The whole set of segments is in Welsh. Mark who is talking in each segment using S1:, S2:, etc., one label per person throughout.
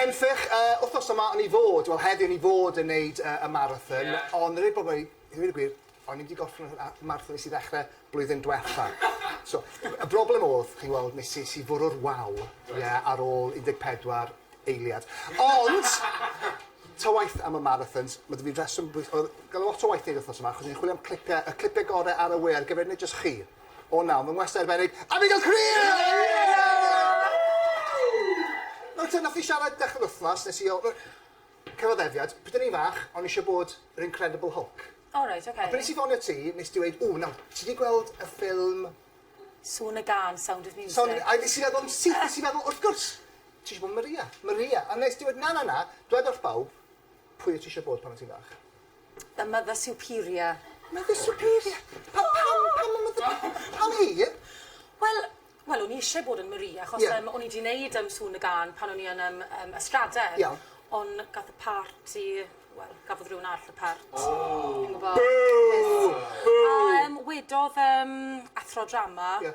S1: Henffych, yy, wthnos yma o'n i fod, wel heddi o'n i fod yn neud yy y marathon. Ie. Ond rwy'n gwbod i ddweud y gwir, o'n i wedi gorffen y y marathon nes i ddechre blwyddyn dwetha. So, y broblem o'dd, chi'n gweld, nes i nes i fwrw'r wal, ie, ar ôl un deg pedwar eiliad. Ond, ta waeth am y marathons, ma' 'da fi reswm bwyll- o'dd, ga'l lot o waith i neud wthnos yma, achos o'n i'n chwilio am clipe, y clipe gore ar y we ar gyfer neud jyst chi. O na, mae'n wastad arbennig. Annigal Cree! Nawr te, nath ni siarad dechre'r wthnos, nes i o- yy cyfaddefiad, pryd o'n i'n fach, o'n i isio bod yr Incredible Hulk. O reit, oce. A pryd nes i
S2: ffonio ti,
S1: nes ti weud, ww, nawr, ti 'di gweld y ffilm... Sŵn
S2: y Gân, Sound of Music. Sound of M-... A nes i feddwl yn syth,
S1: nes i feddwl, wrth gwrs, ti isio bod Maria, Maria. A nes ti weud, na, na, na, dwed wrth bawb, pwy o' ti isio bod pan o' ti'n fach? Y Mother
S2: Superior. Mother Superior?
S1: Pa- pam pam y Mother Sup- yy pam hi? Wel
S2: wel o'n i isie bod yn Marie achos... Ie. ...yym o'n i 'di neud yym sŵn y gân pan o'n i yn yym yym Ystraden. Iawn. On' gath y part i wel gafodd rywun arall y part. O! Fi'n gwbo. Bŵ! Bŵ!
S1: A yym
S2: wedodd yym athro drama... Ie.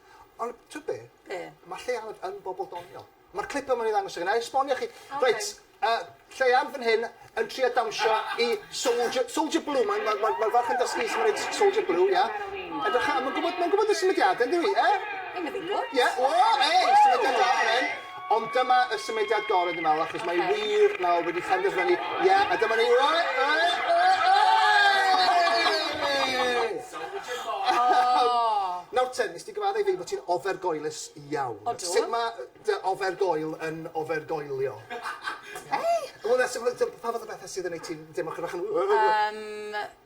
S1: Ond t'wod be'? Be'? Ma' Lleuad yn bobol doniol. Ma'r clip yma'n ei ddangos i chi. 'Nai esbonio chi. Oce. Reit yy Lleuad fan hyn yn trio dawnsio i Soldier Soldier Blue mae'n ma'r ma'r ma'r ferch yn dysgu su' ma' neud S- Soldier Blue ia? Edrycha a ma'n gwbod ma'n gwbod y symudiade yndyw 'i? Yy? Ie!
S2: Ie! O! Ei!
S1: Symudiad da fan 'yn. Ond dyma y symudiad gore dwi'n meddwl achos mae wir nawr wedi phenderfynu ie a dyma ni oe oe Nawr te, nes di gyfadde i fi bod ti'n ofergoelus iawn. Odw. Sut ma' yy
S2: dy
S1: ofergoel yn ofergoelio? Ei! Wel na sut ma' dy- pa fath o bethe sydd yn neud ti'n deimlo chydig bach yn Yym.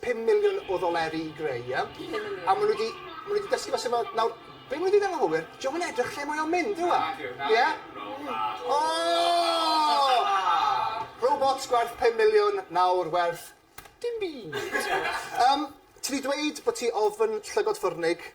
S1: 5 miliwn o ddoleri i greu, ie? 5 miliwn. A ma' nw 'di ma' nw 'di dysgu fo sut ma'... Nawr, be' ma' nw 'di neud yn anghywir, 'di o'm yn edrych lle mae o'n mynd, yw e? Nage, nage. Ie? Wrong path. O! Robots gwerth pum miliwn, nawr werth dim byd. Yym, ti 'di dweud bo' ti ofn llygod ffyrnig,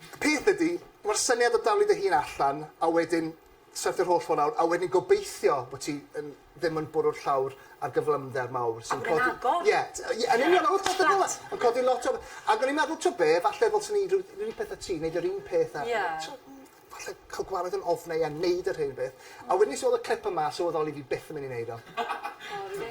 S2: Y peth ydy,
S1: mae'r syniad o daflu dy hun allan a wedyn syrthio'r holl ffordd lawr a wedyn gobeithio bod ti yn ddim yn bwrw'r llawr ar gyflymder mawr sy'n codi... A gwneud agor. Ie,
S2: ie, yn union,
S1: holl bethe fel 'na. Yn codi lot o... Ac o'n i'n meddwl, t'o' be', falle ddylsen i neud ryw ryw peth â ti, neud yr un peth a... Ie. ...t'o' n- falle ca'l gwared yn ofnau a neud yr hen beth. A wedyn nes i weld y clip yma a sylweddoli fi byth yn myn' i neud o. O rili?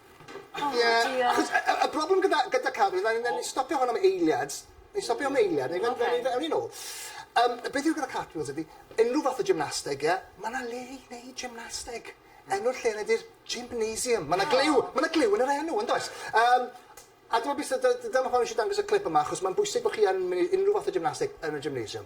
S1: O diolch. Ie achos y y y broblem gyda gyda cân yw nawn ni stopio hwn am eiliad. Newn ni stopio am eiliad. Oce. Newn ni fe- awn ni nôl. Yym beth yw gyda cartwheels ydi unryw fath o gymnasteg ie ma' 'na le i neud gymnasteg. Enw'r lle 'na di'r gymnasium. Ma' 'na gliw ma' 'na gliw yn yr enw yndoes? Yym a t'mo' be' sy 'da d- dyma pam nesh i dangos y clip yma achos ma'n bwysig bo' chi yn myn' i unryw fath o gymnasteg yn y gymnasium.